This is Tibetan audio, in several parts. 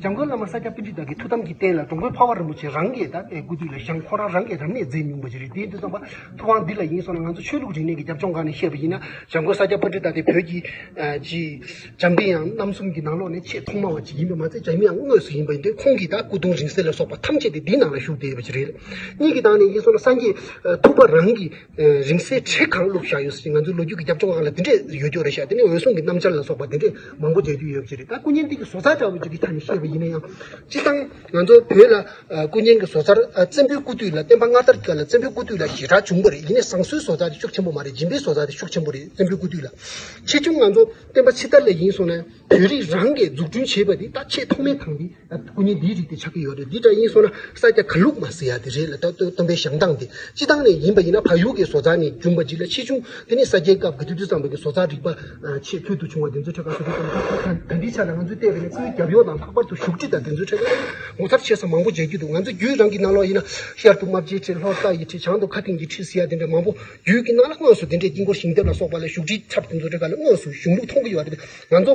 འཇམ་མགོན་བླ་མ་ས་སྐྱ་པཎ་ཁྲི་དག་གི་ཐུགས་དམ་གྱི་རྟེན་ལ་འགྲོ་མགོན་འཕགས་པ་རིན་པོ་ཆེ་རང་གི་དད་པའི་སྐུ་དུས་ལ་བཞེངས་ཁོང་རང་རང་གི་རབ་གནས་མཛད་མྱོང་པ་ཞིག་རེད་དེའི་དུས་བསམ་པ་ཐུབ་དབང་འདི་ལ་ཡིན་སོང་ན་ང་ཚོ་ཆོས་ལུགས་རིག་གནས་ཀྱི་རྒྱབ་ལྗོངས་སྒང་ནས་བཤད་པ་ཡིན་ན་འཇམ་མགོན་ས་སྐྱ་པཎ་ཁྲི་དག་དེ་བོད་ཀྱི་ཀྱི་འཇམ་དཔལ་ཡང་རྣམ་གསུམ་གྱི་ནང་ལོགས་ནས་ཆེས་ཐོག་མ་བ་ཅིག་ཡིན་པ་མ་ཚད་འཇམ་དབྱངས་དངོས་སུ་ཡིན་པ་ཡིན་དུས་ཁོང་གིས་དག་སྐུ་གདུང་རིང་བསྲེལ་ལ་སོགས་པ་ཐམས་ཅད་དེ་འདིའི་ནང་ལ་བཞུགས་བསྡད་ཡོད་པ་ཞིག་རེད་གཉིས་ཀྱི་སྟངས་ནས་ཡིན་སོང་ན་སངས་རྒྱས་ཐུབ་པ་རང་གི་རིང་བསྲེལ་ཁྲི་གང་བླུགས་བཞག་ཡོད་ཟེར་གྱི་ང་ཚོའི་ལོ་རྒྱུས་ཀྱི་རྒྱབ་ལྗོངས་ཁག་ལ་དེ་འདྲས་ཡོད་རྒྱུ་རེད་ཤག་དེ་ནས་འོད་སྲུང་གི་རྣམ་འཆར་ལ་སོགས་པ་དེ་འདྲས་མང་པོ་མཇལ་རྒྱུ་ཡོད་ཀྱི་རེད་ད་སྐུ་བརྙན་སྟེང་གི་བཟོ་རྩལ་འདྲ་བོ་ཅིག་གི་ཆ་ནས་བཤད་པ་ཡིན་ན་ཡང། སྤྱིར་བཏང་ང་ཚོ་བོད་ལ་སྐུ་བརྙན་གྱི་བཟོ་རྩལ་བཙན་པོའི་སྐུ་དུས་ལ་བསྟན་པ་སྔ་དར་གྱི་ལ་བཙན་པོའི་སྐུ་དུས་ལ་ཞེ་དྲག་བྱུང་པ་རེད་ཡིན་ནས་བཟང་གསོའི་བཟོ་རྩལ་དེ་ཤུགས་ཆེན་པོ་མ་རེད་སྦྱིན་པའི་བཟོ་རྩལ་དེ་ཤུགས་ཆེན་པོ་རེད་བཙན་པོའི་སྐུ་དུས་ལ། ཆེ་ཆུང་ང་ཚོ་བསྟན་པ་ཕྱི་དར་ལས་ཡིན་སོང་ན་བོད་རིགས་རང་གིས་འཛུགས་སྐྲུན་བྱས་པ་དེ་ད་ཆེས་ཐོག་མའི་དང་དེ། སྐུ་ཉིད་འདིའི་རིགས་དེ་ཆགས་ཀྱི་ཡོད་རེད་འདི་འདྲ་ཡིན་སོང་ན་ས་སྐྱ་ཁ་ལུག་མ་ཟེར་ཡ་དེ་རེད་ལ་ད་སྟོན་པའི་ཞང་སྟངས་དེ་སྤྱི་སྟངས་ནས་ཡིན་པ་ཡིན་ན་ཕ་ཡུལ་གྱི་བཟོ་རྩལ་ནི་རྒྱུན་པ་འཇིག་ལ་ཆེ་ཆུང་དེ་ནི་ས་སྐྱའི་སྐབས་གི་དུས་དུས་ཙམ་རེ་གི་བཟོ་རྩལ་རིག་པ་ཆེས་ཕུལ་དུ་བྱུང་བ་དེ་ཚོའི་ཁྲོད་ཁ་ཤོ་ཤོ་ཙམ་ཞིག་ད་འདྲིའི་ཆ་ལ་ང་ཚོས་བལྟས་པས་ནི་སྐུའི་རྒྱབ་ཡོལ་དང་ལྷག་པར་དུ་བཞུགས་ཁྲི་དང་དེ་ཚོའི་ཁྲོད་ཀྱང་ངོ་མཚར་ཆེ་ས་མང་པོ་མཇལ་རྒྱུ་འདུག་ང་ཚོའི་རྒྱུད་རང་གི་རྣ་ལོག་ཡིན་ན་ཤར་དུ་རྨ་བྱའི་ཁྲི་ལྷོར་རྟ་ཡི་ཁྲི་བྱང་དུ་མཁའ་ལྡིང་གི་ཁྲི་ཟེར་ཡ་དེ་འདྲ་མང་པོ་རྒྱུད་ཀྱི་རྣ་ལོག་དངོས་སུ་དེ་འདྲའི་དཀྱིལ་འཁོར་ཞིང་ལྡེབས་ལ་སོགས་པ་ལ་བཞུགས་ཁྲིའི་ཚབ་དེ་ཚོའི་ཁྲོད་ཀ་ལ་དངོས་སུ་བཞུགས་ལུགས་མཐོང་གི་ཡོད་རེད་འདུག་ང་ཚོ་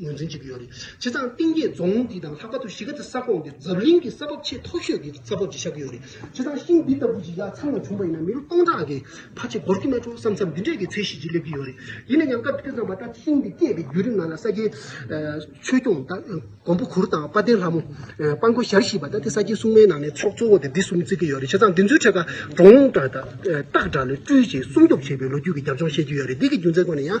ངོས་འཛིན་བྱེད་ཀྱི་ཡོད་རེད། སྤྱིར་བཏང་གཏིང་སྐྱེས་རྫོང་འདི་དང་ལྷག་པར་དུ་གཞིས་ཀ་རྩེ་ས་ཁོངས་འདིར་འཛམ་གླིང་གི་ས་བབ་ཆེས་མཐོ་ཤོས་ཀྱི་ས་བབ་ཅིག་ཆགས་ཀྱི་ཡོད་རེད། སྤྱིར་བཏང་ཤིང་འདི་ལྟ་བུ་ཞིག་ཡ་ཚང་ལ་བྱུང་བ་ཡིན་ན་མི་ལོ་སྟོང་ཕྲག་གི་ཕར་ཆེ་འགོར་གྱི་མ་བྱུང་བསམ་བསམ་འདི་འདྲའི་གི་ཚད་ཤིག་ཅིག་སླེབས་ཀྱི་ཡོད་རེད། ཡིན་ན་ཡང་སྐབས་དེ་ཙམ་པ་ལྟར་ཤིང་འདི་སྐྱེས་པའི་བརྒྱུད་རིམ་ནང་ལ་ས་སྐྱའི་ཆོས་སྐྱོང་གོང་བུ་གུར་དང་དཔའ་ལྡན་ལྷ་མོ། དཔའ་མགོན་ཞལ་བཞི་པ་ད་ལྟའི་ས་སྐྱའི་སྲུང་མའི་ནང་ནས་ཚོགས་གཙོ་བོ་དེ་འདི་གསུམ་བརྩི་གི་ཡོད་རེད། སྤྱིར་བཏང་འདི་ཚོའི་ཁྲོད་ཀ་འབྲོང་ལུང་སྟག་སྒྲ་ལས་སྤྲུལ་ཅིང་སྲུང་སྐྱོབ་བྱེད་པའི་ལོ་རྒྱུས་ཀྱི་རྒྱབ་ལྗོངས་ཤེས་ཀྱི་ཡོད་རེད། འདི་གི་རྒྱུ་མཚན་སྐོར་ནས་ཡང།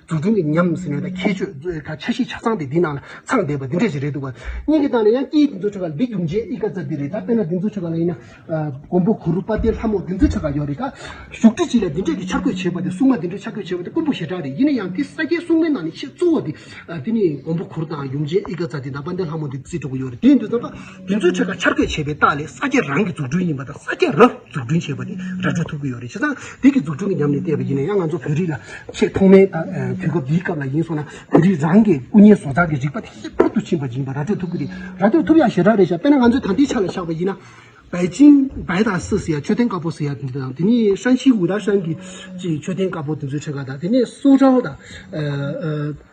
འཛུགས་སྐྲུན་གྱི་ཉམས་ཟིན་ཡོད་ལ་ཁྱད་ཆོས་གཙོ་བོའི་ཁ་ཆ་བཞི་ཆ་ཚང་དེ་འདིའི་ནང་ལ་ཚང་བསྡད་པ་འདི་འདྲ་ཞིག་རེད་འདུག་བ། སྙིང་གི་ཏང་ལ་ཡང་སྐྱིད་འདི་ཚོ་ཆོ་ག་འདི་རྒྱུགས་མཇལ་ཨི་དཀའ་རྩ་འདི་རེད་ད་དཔེར་ན་འདི་ཚོ་ཆོ་ག་ལ་ཡིན་ན། མགོན་པོ་གུ་རུ་དཔལ་ལྡན་ལྷ་མོ་འདི་ཚོའི་ཆོ་ག་ཡོད་རེད་ད། བཞུགས་ཁྲི་སྤྱི་ལ་འདི་འདྲས་ཀྱི་འཆར་འགོད་བྱས་པ་དེ་སྲུང་མ་འདི་འདྲས་འཆར་འགོད་བྱས་པ་དེ་དཀོན་པོ་ཞེ་དྲག་རེད་ཡིན་ན་ཡང་དེ་ས་སྐྱའི་སྲུང་མའི་ནང་ནས་ཆེས་གཙོ་བོ་དེ། དེ་ནི་མགོན་པོ་གུ་རུ་དང་ཡུམ་མཇལ་ཨི་དཀའ་རྩ་དེ་ད་དཔལ་ལྡན་ལྷ་མོ་འདི་བརྩི་འགྲོ་གི་ཡོད་རེད་དེ་འདི་ཚོ་ད། དེ་ཚོའི་ཁྲོད་ཀྱི་འཆར་འགོད་བྱས་པའི་རྟགས་ལས་ས་སྐྱ་རང་གི་འཛུགས་སྐྲུན་ཡིན་པ་དང་ས་སྐྱ་རུ་འཛུགས་སྐྲུན་བྱས་པ་དེ་ར་སྤྲོད་ཐུབ་ཀྱི་ཡོད་རེད་བྱས་ཙང་དེ་གི་འཛུགས་སྐྲུན་གྱི་ཉམས་ལེན་བལྟས་པ་ཡིན་ན་ཡང་ང་ཚོ་བོད་རིགས་ལ་ཆེས་ཐོག་མའི་དུས་སྐབས་འདིའི་སྐབས་ལ་ཡིན་སོང་ན་བོད་རིགས་རང་གི་སྐུ་བརྙན་བཟོ་ཚགས་ཀྱི་རིག་པ་དེ་ཧེ་ཕུལ་དུ་ཕྱིན་པ་ཡིན་པ་ར་སྤྲོད་ཐུབ་ཀྱི་རེད་ར་སྤྲོད་ཐུབ་ཡ་ཞེ་དྲག་རེད་བྱས་དཔེར་ན་ང་ཚོས་ད་ལྟའི་ཆ་ལ་བཞག་པ་ཡིན་ན། བའི་ཅིང་བའི་དང་སི་ཟེར་ཡ་མཆོད་རྟེན་དཀར་པོ་ཟེར་ཡ་དེ་འདི་དང་དེ་ནས་ཧྲན་ཤིའི་ཝུའུ་ར་ཧྲན་གྱི་ཅིའི་མཆོད་རྟེན་དཀར་པོ་དེ་ཚོའི་ཁྲོད་ཀ་དང་དེ་ནས་སུའུ་ཀྲའོ་དང།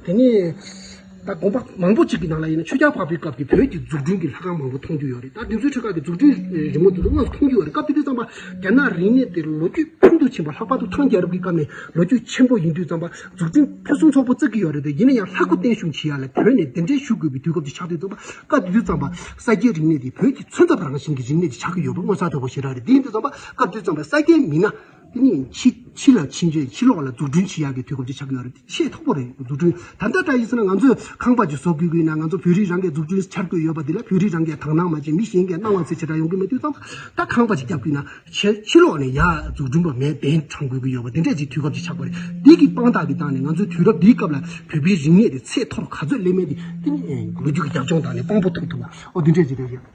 དེ་ནས་ད་དགོངས་པ་མང་པོ་གཅིག་གི་ནང་ལ་ཡིན་ན་ཆོས་རྒྱལ་འཕགས་པའི་སྐབས་ཀྱི་བོད་ཀྱི་འཛུགས་སྐྲུན་གྱི་ལྷ་ཁང་མང་པོ་མཐོང་རྒྱུ་ཡོད་རེད་ད་དེ་ཚོའི་ཁྲོད་ཁག་གི་འཛུགས་སྐྲུན་རི་མོ་དེ་ཚོ་དངོས་སུ་མཐོང་རྒྱུ་ཡོད་རེད་སྐབས་དེ་དུས་བརྩམས་པ་རྒྱ་ནག་རིག་གནས་དེ་ལོ་རྒྱུས་ཕུལ་དུ་ཕྱིན་པ་ལྷག་པར་དུ་ཐང་རྒྱལ་རབས་ཀྱི་སྐབས་ནས་ལོ་རྒྱུས་ཆེན་པོ་ཡིན་དུས་བརྩམས་པ་འཛུགས་སྐྲུན་ཕུན་སུམ་ཚོགས་པོ་བརྩི་གི་ཡོད་རེད་དེ་ཡིན་ན་ཡང་ལྷ་སྐུ་བརྟན་བཞུགས་བྱེད་ཡ་ལས་བོད་ནས་གདན་འདྲེན་ཞུ་དགོས་པའི་དུས་སྐབས་དེ་ཆགས་དུས་བརྩམས་པ་སྐབས་དེ་དུས་བརྩམས་པ་ས་སྐྱའི་རིག་གནས་དེ་བོད་ཀྱི་མཚོན་ཐབས་རང་བཞིན་གྱི་རིག་གནས་དེ་ཆགས་ཀྱི་ཡོད་པ་མངོན་གསལ་དོད་པོ་ཞིག་རག་རེད་དེ་ཡིན་དུས་བརྩམས་པ་སྐབས་དེ་བརྩམས་པ་ས་སྐྱའི་མི་སྣ། ནི། ཕྱི་ལ་ཕྱིན་རྗེས་ཕྱི་ལོགས་ལ་འཛུགས་སྐྲུན་ཇི་ཡག་གི་དུས་སྐབས་ཅིག་ཆགས་ཀྱི་ཡོད་རེད་དེ་ཆེས་མཐོ་པོ་རེད་འཛུགས་སྐྲུན་ད་ལྟ་འདྲ་ཡིན་ཟེར་ན་ང་ཚོས་ཁང་པ་ཅིག་བཟོ་དགོས་ཀྱི་ཡིན་ན་ང་ཚོ་བོད་རིགས་རང་གིས་འཛུགས་སྐྲུན་བྱ་དགོས་ཡོད་པ་དེ་ལ་བོད་རིགས་རང་གིས་དག་སྣང་མ་བྱས་མི་གཞན་གྱིས་སྣང་བ་ཚད་ཆེ་དྲགས་ཡོང་གི་མེད་དུས་ཙམ་ལ་ཁང་པ་ཅིག་བརྒྱབ་དགོས་ན་ཕྱི་ལོགས་ནས་ཡག་འཛུགས་སྐྲུན་པ་མས་གདན་དྲངས་དགོས་ཀྱི་ཡོད་པ་དེ་འདྲ་ཅིག་དུས་སྐབས་ཅིག་ཆགས་པ་རེད་དེ་གི་དཔང་རྟགས་ཀྱི་སྟངས་ནས་ང་ཚོའི་དུས་རབས་འདིའི་སྐབས་ལ་བོད་པའི་རིག་གནས་དེ་ཚད་མཐོ་རུ་ག་ཚོད་སླེབས་མིན་དེ་ལོ་རྒྱུས་ཀྱི་རྒྱབ་ལྗོངས་དག་ནས་དཔང་པོ་ཐུབ་ཐུབ་ལ་འོ་དེ་འདྲ་ཅིག་རེད།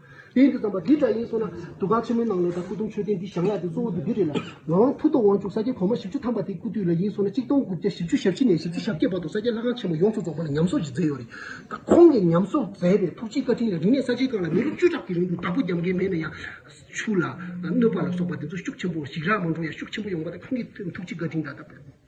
དེས་འདི་ཙམ་པ་འདི་འདྲ་ཡིན་གསུངས་ན། འདུ་ཁང་ཆེན་མོའི་ནང་ལོ་ཟླ་སྐུ་གདུང་མཆོད་རྟེན་འདི་བཞེངས་ཡག་དེ་གཙོ་བོ་འདི་འདི་རེད་ལ། ང་དབང་ཕུ་ཐོག་དབང་ཕྱུག་ས་སྐྱའི་གོང་མ་བཞི་བཅུ་ཐམ་པ་དེའི་སྐུ་དུས་ལ་ཡིན་གསུངས་ན་གཅིག་སྟོང་དགུ་བརྒྱ་བཞི་བཅུ་ཞབས་ཕྱི་ནས་བཞི་བཅུ་ཞབས་བརྒྱད་བར་དུ་ས་སྐྱའི་ལྷ་ཁང་ཆེན་མོ་ཡོངས་སུ་རྫོགས་པ་ལ་ཉམས་གསོག་ཅིག་མཛད་ཡོད་རེད། ད་ཁོང་གིས་ཉམས་གསོག་མཛད་པའི་ཐུགས་རྗེའི་བཀའ་དྲིན་ལས་རིག་གནས་ས་ཆའི་སྒང་ལ་མི་ལོ་བཅུ་ཕྲག་གི་རིང་དུ་བདག་པོ་རྒྱབ་འགལ་མེད་ན་ཡང། ཆུ་ལ། གནོད་པ་ལ་སོགས་པ་འདི་ཚོ་ཤུགས་ཆེན་པོ་ཞིག་རག་མ་འགྲོ་ཡ་ཤུགས་ཆེན་པོ་ཡོང་བ་དེ་ཁོང་གི་ཐུགས་རྗེ་བཀའ་དྲིན་ད་ལྟ།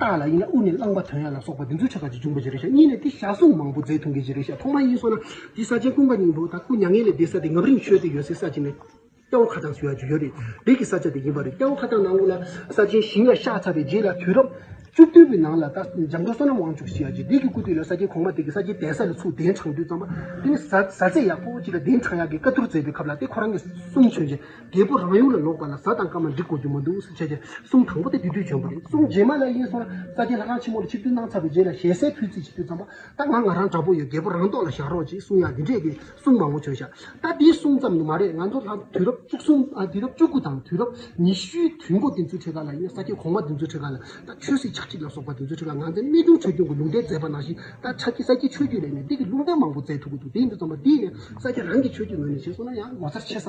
རྟགས་ལ་དབྱིངས་ལ་དབུ་མའི་བླང་བ་དོན་ཡོད་ལ་སོགས་པ་འདི་ཚོ་ཆ་ག་ཅིག་འབྱུང་བའི་རེ་བཞག་གཉིས་ལས་དེ་བཞག་གཟུངས་མང་པོ་རྫས་ཐུང་གི་རེ་བཞག་ཐོག་མ་ཡིན་སོགས་ན་འདི་ས་ཆེན་ཀུན་དགའ་སྙིང་པོ་དང་སྐུ་མྱ་ངན་ལས་འདས་ས་དེ་ངམ་རིང་ཆོས་སྡེ་ཡོད་སའི་ས་ཆེན་ནི་སྐྱ་བོ་ཁ་གདངས་སུ་ཡོད་རྒྱུ་ཡོད་རེད་རིགས་ཀྱི་ས་ཆ་དེ་ཡིན་པ་རེད་སྐྱ་བོ་ཁ་གདངས་ནང་དབུས་ལ་ས་ཆེན་ཞིང་ལ་ཤ་ཚ་བའི་རྗེས་ལ་དུས་རབས་བཅུ་བདུན་པའི་ནང་ལ་ད་འཇམ་མགོན་བསོད་ནམས་དབང་ཕྱུག་ཞེས་ཡག་རྗེ་འདི་ཀྱི་སྐུ་དུས་ལ་ས་ཆེན་གོང་མ་དེ་གི་ས་ཆེན་གདན་ས་ལ་ཚུགས་གདན་དྲངས་དུས་ཙམ་པ་དེ་ནི་བཟའ་བཟའ་ཚད་ཡག་པོ་ཅིག་ལ་གདན་དྲངས་ཡག་གི་བཀའ་བསྡུར་མཛད་པའི་ཁབ་ལ་དེ་ཁོ་རང་གི་གསུང་མཆོད་ཅིང། རྒྱལ་པོ་རང་ཡུལ་ལ་ལོག་པ་ལ་གཟའ་དང་སྐར་མ་འགྲིག་གོ་རྒྱུ་མ་འདུག་སུ་ཆད་ཀྱི་གསུང་དང་པོ་དེ་དུས་དུས་བྱོན་པོ་རེད་གསུང་རྗེས་མ་ལ་ཡིན་སོང་རྩ་རྒྱལ་ལྷ་ཁང་ཆེན་མོ་ལ་ཆིབས་བསྒྱུར་གནང་ཚར་བའི་རྗེས་ལ་ཞལ་གསལ་ཕུལ་རྩིས་བྱེད་རྒྱུ་བརྩམས་པ་ད་ང་ང་རང་འདྲ་པོ་ཡོད་རྒྱལ་པོ་རང་ཏོག་ལ་བཞག་རོགས་ཅིག་གསུང་ཡག་འདི་འདྲས་ཀྱི་གསུང་མང་པོ་བྱོས་ཤག་ད་འདིའི་གསུང་ཙམ་ནི་མ་རེད་ང་ཚོ་ལྷ་དུས་རབས་བཅུ་གསུམ་དུས་རབས་བཅུ་དགུ་དང་དུས་རབས་ཉི་ཤུའི་དུས་མགོ་དེ་ཚོའི་ཁྲི་ཀ་ལ་ཡིན་ས་སྐྱའི་གོང་མ་དེ་ཚོའི་ཁྲི་ཀ་ལ་ད་ཆོས་སྲིད་ཆགས་འཇིག་ལ་སོགས་པ་དེ་ཚོའི་ཁྲི་ཀ་ང་ཚོའི་གནས་ཆུང་ཆོས་སྐྱོང་གི་ལུང་བསྟན་མཛད་པ་ནང་བཞིན་ད་ཆ་སྐྱའི་ས་སྐྱའི་ཆོས་བརྒྱུད་ལས་ནས་འདི་གི་ལུང་བསྟན་མང་པོ་མཛད་ཐུབ་ཀྱི་འདུག་དེའི་འདུག་ཙམ་པ་འདིས་ནས་ས་སྐྱ་རང་གི་ཆོས་བརྒྱུད་ངོས་ནས་བྱས་སོང་ན་ཡང་ངོ་མཚར་ཆེ་ས།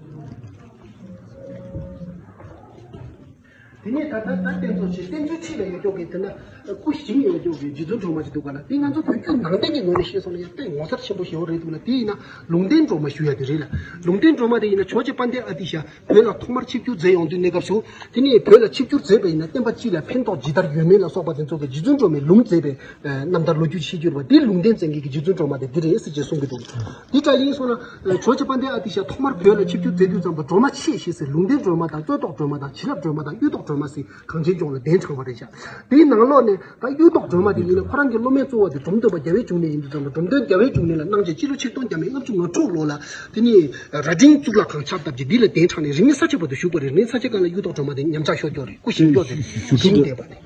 དེ་ནས་ད་ལྟ་ད་བསྟན་འཚོལ་བྱེད་བསྟན་འཚོལ་ཆེད་ལས་ཡོད་སྐྱོང་གིས་དེ་ན་སྐུ་ཞིང་ཡོད་སྐྱོང་གིས་རྗེ་བཙུན་གྲོ་མ་ཞིག་འདུག་པ་ལ་དེ་ང་ཚོ་བོད་བརྒྱུད་ནང་བསྟན་གྱི་ངོས་ནས་བཤད་སོང་ན་ཡང་དཔེ་ངོ་མཚར་ཆེན་པོ་ཞེ་བོ་རེད་འདུག་ལ་དེ་ཡིན་ན་ལུང་བསྟན་གྲོ་མ་ཞུ་ཡ་དེ་རེད་ལ་ལུང་བསྟན་གྲོ་མ་དེ་ཡིན་ན་ཆོས་རྗེ་དཔལ་ལྡན་ཨ་ཏི་ཤ་བོད་ལ་ཐོག་མར་ཆིབས་བསྒྱུར་མཛད་ཡོང་དུས་གནས་སྐབས་སུ་དེ་ནས་བོད་ལ་ཆིབས་བསྒྱུར་མཛད་པ་ཡིན་ན་བསྟན་པ་སྤྱི་ལ་ཕན་ཐོགས་ཇི་ལྟར་ཡོད་མིན་ལ་སོགས་པ་དེ་ཚོ་གི་རྗེ་བཙུན་གྲོ་མའི་ལུང་མཛད་པའི་རྣམ་ཐར་ལོ་རྒྱུས་ཆིག་གྱུར་པ་འདི་ལུང་བསྟན་བཙན་རྒྱལ་གྱི་རྗེ་བཙུན་གྲོ་མ་དེ་འདི་རེད་ཟེར་གྱིས་གསུངས་ཀྱི་འདུག་འདི་འདྲ་ཡིན་སོང་ན་ཇོ་ཆེ་པ་འདི་ཨ་ཏི་ཤ་ཐོག་མར་བོད་ལ་ཆིབས་བསྒྱུར་མཛད་དུས་ཙམ་དུ་གྲོ་མ་ཆེ་ཞེས་ཟེར་ལུང་བསྟན་སྒྲོལ་མ་དང་བཙོན་ཐོག་སྒྲོལ་མ་དང་བྱིན་རླབས་སྒྲོལ་མ་དང་གཡུ་ཐོག་སྒྲོལ་མ་སི་གངས་ཅན་ལྗོངས་ལ་གདན་དྲངས་པ་རེད་བཞག་དེའི་ནང་ལོགས་ནས་ད་གཡུ་ཐོག་སྒྲོལ་མ་དེ་ཡིན་ན་ཁོ་རང་གི་སློབ་མའི་གཙོ་བོ་དེ་འབྲོམ་སྟོན་པ་རྒྱ་བལ་འབྱུང་གནས་ཡིན་དུས་ཙམ་དུ་འབྲོམ་སྟོན་རྒྱ་བལ་འབྱུང་གནས་ལ་གནང་བྱོན་སྤྱི་ལོ་ཆིག་སྟོང་བརྒྱ་མེད་ལྔ་བཅུ་ང་དྲུག་ལོ་ལ་དེ་ནི་རྭ་སྒྲེང་གཙུག་ལག་ཁང་ཕྱག་བཏབ་ཀྱིས་འདི་ལ་གདན་དྲངས་ནས་རིང་མིན་ས་ཕྱེད་པ་དུ་བཞུགས་པ་རེད་རིང་མིན་ས་ཕྱེད་ཀ་ལ་གཡུ་ཐོག་སྒྲོལ་མ་དེ་ཉམས་ཆག་ཤོར་འགྱོག་རེད་སྐུ་བཞེངས་འགྱོག་དེ་རེད།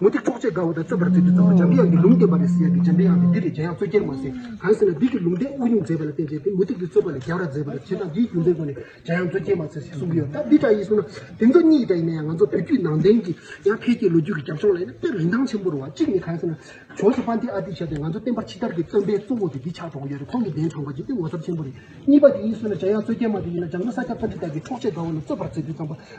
མུ་སྟེགས་འཕྲོག་བྱེད་དགའ་བོ་དང་རྩོད་པར་མཛད་དུ་བཏང་བ་འཇམ་དབྱངས་ཀྱི་ལུང་བསྟན་པ་རེད་ཟེར་ཡ་གི་འཇམ་དབྱངས་ཀྱིས་འདི་རེད་འཇམ་དབྱངས་རྩོད་རྒྱལ་མ་ཟེར་གང་ཟེར་ན་འདི་གི་ལུང་བསྟན་དབུ་སྙུང་མཛད་པ་ལ་བརྟེན་བྱས་ཏེ་མུ་སྟེགས་ཀྱི་རྩོད་པ་ལས་རྒྱལ་བར་མཛད་པ་རེད་བྱས་ཙང་འདིའི་རྒྱུ་མཚན་ཁོ་ནས་འཇམ་དབྱངས་རྩོད་རྒྱལ་མ་ཟེར་ཞེས་གསུང་གི་ཡོད་ད་འདི་འདྲ་ཡིན་གསུང་ན་དེ་ཚོ་གཉིས་འདྲ་ཡིན་ན་ཡང་ང་ཚོ་བོད་བརྒྱུད་ནང་བསྟན་གྱི་ཡང་འཕེལ་རྒྱས་ལོ་རྒྱུས་ཀྱི་རྒྱབ་ལྗོངས་ལ་ཡིན་ན་དཔེར་རིན་ཐང་ཆེན་པོ་རུང་བ་གཅིག་ནི་གང་ཟེར་ན་བྱོན་སོ་པ་འདི་ཨ་འདི་བྱས་ཏེ་ང་ཚོ་བསྟན་པར་ཕྱི་དར་གྱི་བརྩོན་པའི་གཙོ་བོ་དེ་འདི་ཆགས་འགྲོ་གི་ཡོད་རེད་ཁོང་གི་གདན་དྲངས་པ་འཇིག་རྟེན་ངོ་མཚར་ཆེན་པོ་རེད་གཉིས་པ་དེ་ཡིན་གསུང་ན་འཇམ་དབྱངས་རྩོད་རྒྱལ་མ་དེ་ཡིན་ན་འཇམ་མགོན་ས་སྐྱ་པ་འདི་དག་གིས་འཕྲོག་བྱེད་དགའ་བོ་ལ་རྩོད་པར་མཛད་དུ་བཏང་བ།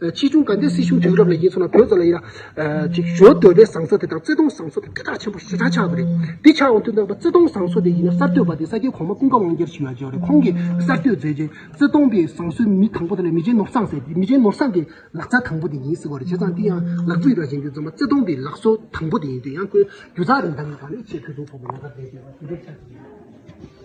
ཕྱིས་བྱུང་དགའ་ལྡན་སྲིད་གཞུང་དུས་རབས་ལ་ཡིན་ཚོ་ན་བོད་ས་ལ་ཡིན་ན། ཞོ་དོད་པའི་ཟངས་ཚ་དེ་དང་བརྩེ་དུང་ཟངས་མཚོ་དེ་སྐད་གྲགས་ཆེན་པོ་ཞེ་དྲག་ཆགས་པ་རེད། འདི་ཆགས་འོང་དུས་ནང་པ་བརྩེ་དུང་ཟངས་མཚོ་དེ་ཡིན་ན་གསར་གཏོད་པ་དེ་ས་སྐྱའི་གོང་མ་ཀུན་དགའ་དབང་རྒྱལ་ཞེས་ཡོད་ཀྱི་རེད་ཁོང་གིས་གསར་གཏོད་མཛད་རྗེས་བརྩེ་དུང་པའི་ཟངས་མཚོའི་མི་དང་པོ་དེ་ལ་མི་རྗེ་ནོར་བཟང་ཟེར་མི་རྗེ་ནོར་བཟང་གི་ལག་ཚ་དང་པོ་དེ་ཡིན་ཟེར་བ་རེད་བྱས་ཙང་དེ་ཡང་ལག་རྩིས་ར་བྱེད་རྒྱུ་རྫོགས་མ་བརྩེ་དུང་པའི་ལག་བཟོ་དང་པོ་དེ་ཡིན་དུས་ཡང་ཁོའི་རྒྱུ་ཚགས་རིན་ཐང་གི་ཁ་ནས་ཆེས་ཕུན་སུམ་ཚོགས་པའི་ལག་རྩ་མཛད་ཟེར་བ་དེ་འདྲ་ཆགས་ཀྱི་རེད།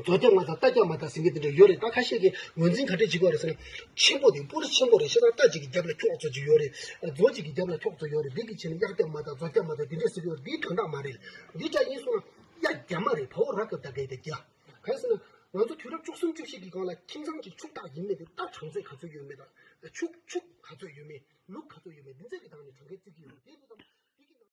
རྡོ་རྡེབ་མ་དང་རྟ་རྒྱག་མ་དང་ཟིང་གེ་དེ་འདྲ་ཡོད་རེད་ད་ཁ་ཤས་ཀྱིས་ངོས་འཛིན་ག་རེ་བྱེད་དགོས་རེད་ཟེར་ན། ཆེན་པོ་དེ་སྤུ་རི་ཆེན་པོ་རེད་ཤེས་དང་རྟ་གཅིག་གི་རྒྱབ་ལ་ཁྱོགས་བཙོ་གཅིག་ཡོད་རེད། རྡོ་གཅིག་གི་རྒྱབ་ལ་ཁྱོགས་བཙོ་ཡོད་རེད་འདི་གི་ཕྱི་ནས་གཡག་རྒྱབ་མ་དང་རྫོ་རྒྱབ་མ་དང་དེ་འདྲ་ཟེར་གི་ཡོད་རེད་འདི་དོན་དག་མ་རེད། འདི་དགྲ་ཡིན་གསུངས་ན། གཡག་རྒྱབ་མ་རེད་བ་བོ་ར་གབ་ད་གད་དེ་རྒྱག། གང་ཟེར་ན། ང་ཚོ་དུས་རབས་བཅུ་གསུམ་བཅུ་བཞི་གི་སྒང་ལ་ཁྱིམ་ཚང་གཅིག་ཕྱུགས་བདག་ཡིན་མེད་དེ་རྟ་གྲངས་ཚད་ག་ཚོད་ཡོད་མེད་དང། ཕྱུགས་ཕྱུགས་ག་ཚོད་ཡོད་མེད་ལུག་ག་ཚོད་ཡོད་མེད་འདི་ཚད་ཀྱི་སྟངས་ནས་གྲངས་ཀའི་རྩིས་ཀྱི་ཡོད་རེད་དེ་ལྟ་བུ་དང།